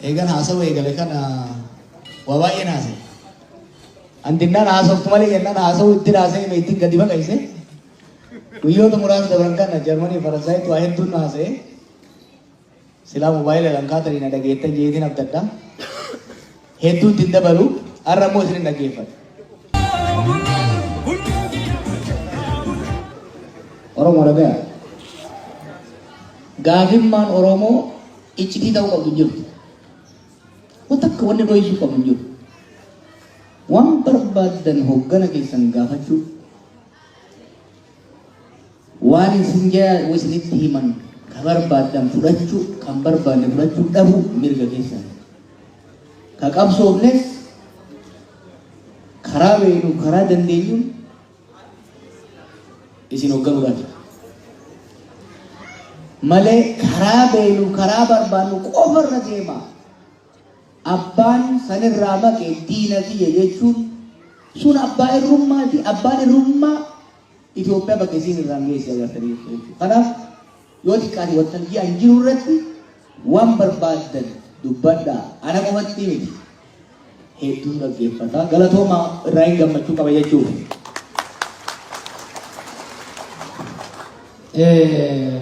Eegan haasawa eegale kana waa baay'een haasa'e. Andinnaan haasoftu malee jennaan haasawuu itti haasa'e mee ittiin gadi baqayse. Guyyoota muraasa dabran kana Jarmanii fi Faransaayitti waa hedduun haasa'e. Silaa moobaayila kan kaatanii na dhageettan jeetiin abdadha. Hedduu itti hin dabalu. Har'a immoo isin hin dhaggeeffatu. Oromoo dhagaya. Gaafimmaan Oromoo iccitii ta'uu qabdu hin jirtu. Wanta akka wanni dho'isu qabdu hin jirtu. Waan barbaadan hoggana keessan gaafachuu Waan isin jaalatu isinitti himan ka barbaaddan fudhachuu kan barbaanne fudhachuu dhabuu mirga keessani. Ka qabsoofnes karaa beeknuuf karaa dandeenyuun isin hogganuudhaafi. Malee karaa beeknuuf karaa barbaannu qofarra deemaa. Abbaan san irraa maqe diina kiyya jechuun sun abbaa irrummaati. Abbaan irrummaa Itoophiyaa bakka isiin irraan geesse agartanii jirtu jechuudha. Kanaaf yoo xiqqaate waltajjii an jiru irratti waan barbaaddan dubbadhaa. Ana qofatti miti. Hedduun dhaggeeffata. Galatooma irraa hin gammachuu qaba jechuudha. Eh,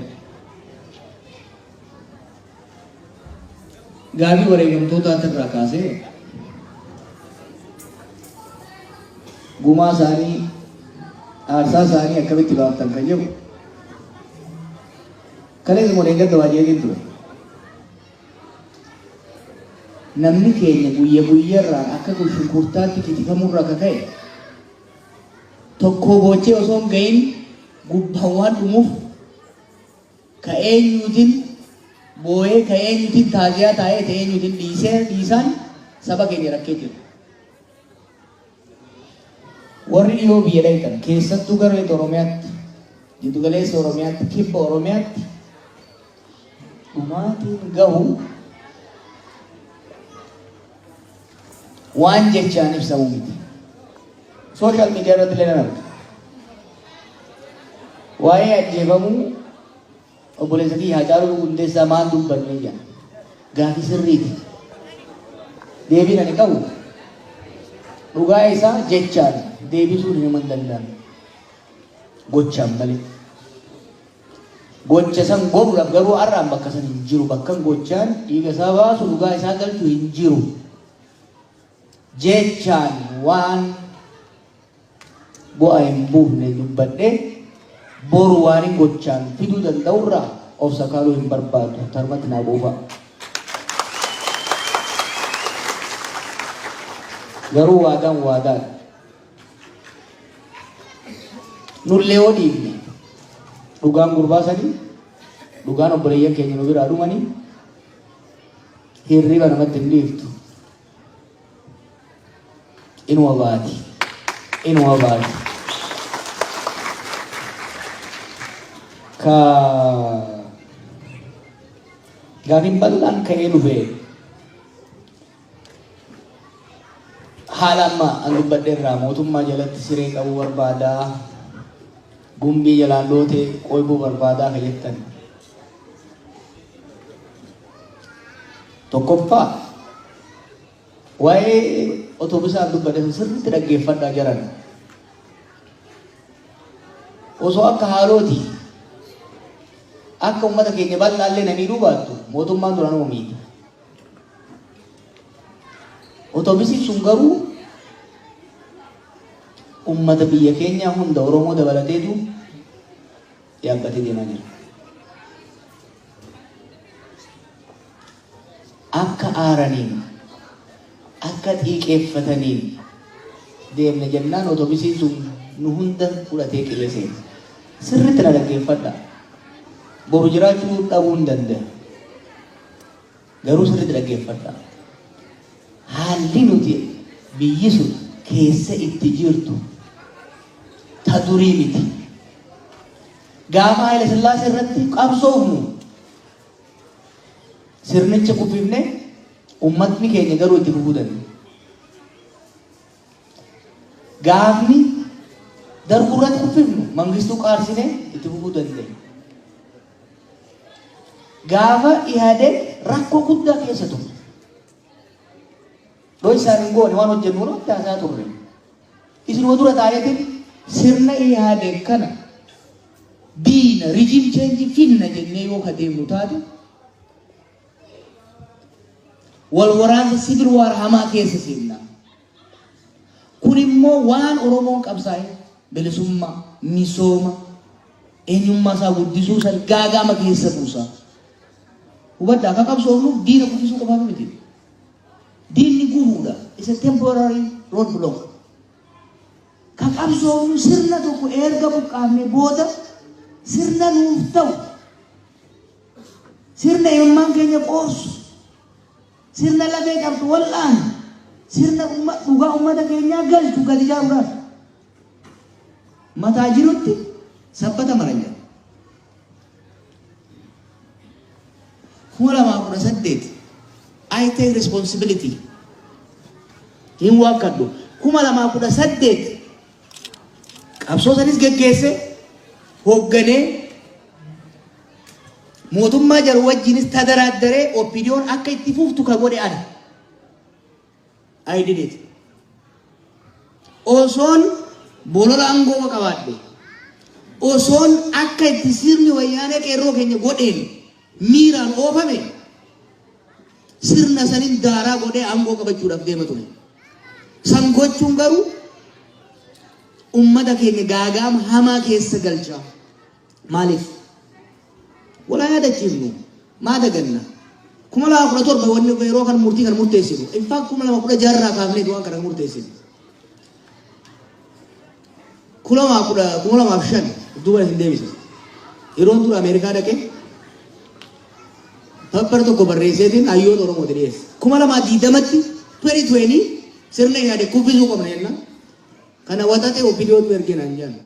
Gaaffii wareegamtootaati irraa kaasee gumaa isaanii aarsaa isaanii akkamitti baaftan kan jedhu kaleessa moo dheengadda waa jeetiin ture. Namni keenya guyya guyyarraa akka kun shunkurtaatti kitifamurra akka ka'e tokkoo boochee osoo hin ga'iin gubbaan waan dhumuuf Ka eenyuutin booyee, ka eenyuutin taaziyaa taa'ee, ta eenyuutin dhiisee dhiisaan saba keenya rakkee jira. Warri dhiyoo biyya dhayxan, keessattuu gara Lixa Oromiyaatti, Jiddu Galeessa Oromiyaatti, Kibba Oromiyaatti dhumaatiin gahu Waan jechaan ibsamu miti. Social media irratti illee nan arga. Waa'ee ajjeefamuu obboleessa kiyya Haacaaluu Hundeessaa maal dubbannee jedha. Gaafii sirriiti. Deebiin ani qabu dhugaa isaa jechaan deebisuun hin danda'amu. Gochaan malee. Gocha san goruudhaaf garuu har'a an bakka san hin jiru. Bakkan gochaan dhiiga isaa baasu, dhugaa isaa galchu hin jiru. Jechaan waan bu'a hin buufne dubbadhe boru waanin gochaan fiduu danda'u irraa of sakaaluu hin barbaadu. Tarmatti naa quufa. Garuu waadaan waadaadha. Nullee yoo dhiifne dhugaan gurbaa sanii dhugaan obboleeyyan keenya nu biraa dhumanii hirriba namatti hin dhiiftu. Inuma baati. Inuma baati. Ka gaafiin bal'aan ka'ee dhufe Haala amma an dubbadhe irraa mootummaa jalatti siree qabuu barbaadaa, gumbii jalaan lootee qoybuu barbaadaa ka jettan. Tokkoffaa waa'ee otoobisaa an dubbadhe sun sirriitti dhaggeeffadhaa jaran. Osoo akka haalooti akka uummata keenya bal'aallee na miidhuu baattu mootummaan duranuu miidha. Otobisiin sun garuu ummata biyya keenyaa hunda Oromoo dabalateetu yaabbatee deemaa jira. Akka aaraniin, akka xiiqeeffataniin deemne jennaan otobisiin sun nu hunda fudhatee qe'ee seena. Sirriitti na dhaggeeffadha. Boru jiraachuu dhabuu hin danda'a. Garuu sirriitti dhaggeeffadhaa. Haalli nuti biyyi sun keessa itti jirtu ta durii miti. Gaafa Haayila Sillaasee irratti qabsoofnu sirnicha kuffifne ummatni keenya garuu itti fufuu danda'e. Gaafni darguu irratti kuffifnu mangistuu qaarsine itti fufuu danda'e. Gaafa Ihadeg rakko gudda keessa ture. Dhoysaan hin goone waan hojjennu irratti haasaa turre. Isinuma dura taaneetiin sirna Ihadeg kana diina rijim cheenji finna jennee yoo ka deemnu taate wal waraansa sivil waar hamaa keessa seenna. Kun immoo waan Oromoon qabsaa'ee bilisummaa, misooma, eenyummaa isaa guddisuu san gaaga'ama keessa buusa. Hubadhaa akka qabsoofnuuf diina kufisuu qofaaf miti. Diinni gufuudha. Is a temporary road block. Ka qabsoofnu sirna tokko erga buqqaafne booda sirna nuuf ta'u sirna ilmaan keenya qoorsu Sirna lafee qabdu wal'aanu, sirna dhugaa ummata keenyaa galchu gad ijaaruudhaaf mataa jirutti sabbata maran jira. kuma lamaa kudha saddeet I take responsibility hin waakkadhu kuma lamaa kudha saddeet Qabsoo sanis geggeesse hoogganee mootummaa jaru wajjiinis tadaraaddaree OPDOn akka itti fuftu ka godhe ana. I did it. Osoon bolola aangoo qabaadhe. Osoon akka itti sirni wayyaanee qeerroo keenya godheen miiraan oofame. Sirna sanin daaraa godhee aangoo qabachuudhaaf deema ture. San gochuun garuu ummata keenya gaagaama hamaa keessa galcha. Maaliif? Walaa yaadachiifnu. Maa daganna? kuma lama kudha torba wanni yeroo kan murtii kan murteessinu. In fact kuma lama kudha jaha irraa kaafneeti waan kana kan murteessinu. Kulamaa kudha kuma lamaaf shan duuba isin deebisa. Yeroon tura Ameerikaa dhaqe pappar tokko barreesseetiin hayyoota Oromooti dhiyeesse. Kuma lamaa diidamatti peri tuwenii sirna yaade kubbisuu qabna jenna. Kana waxaxee obbidiyootu ergee naan jedhan.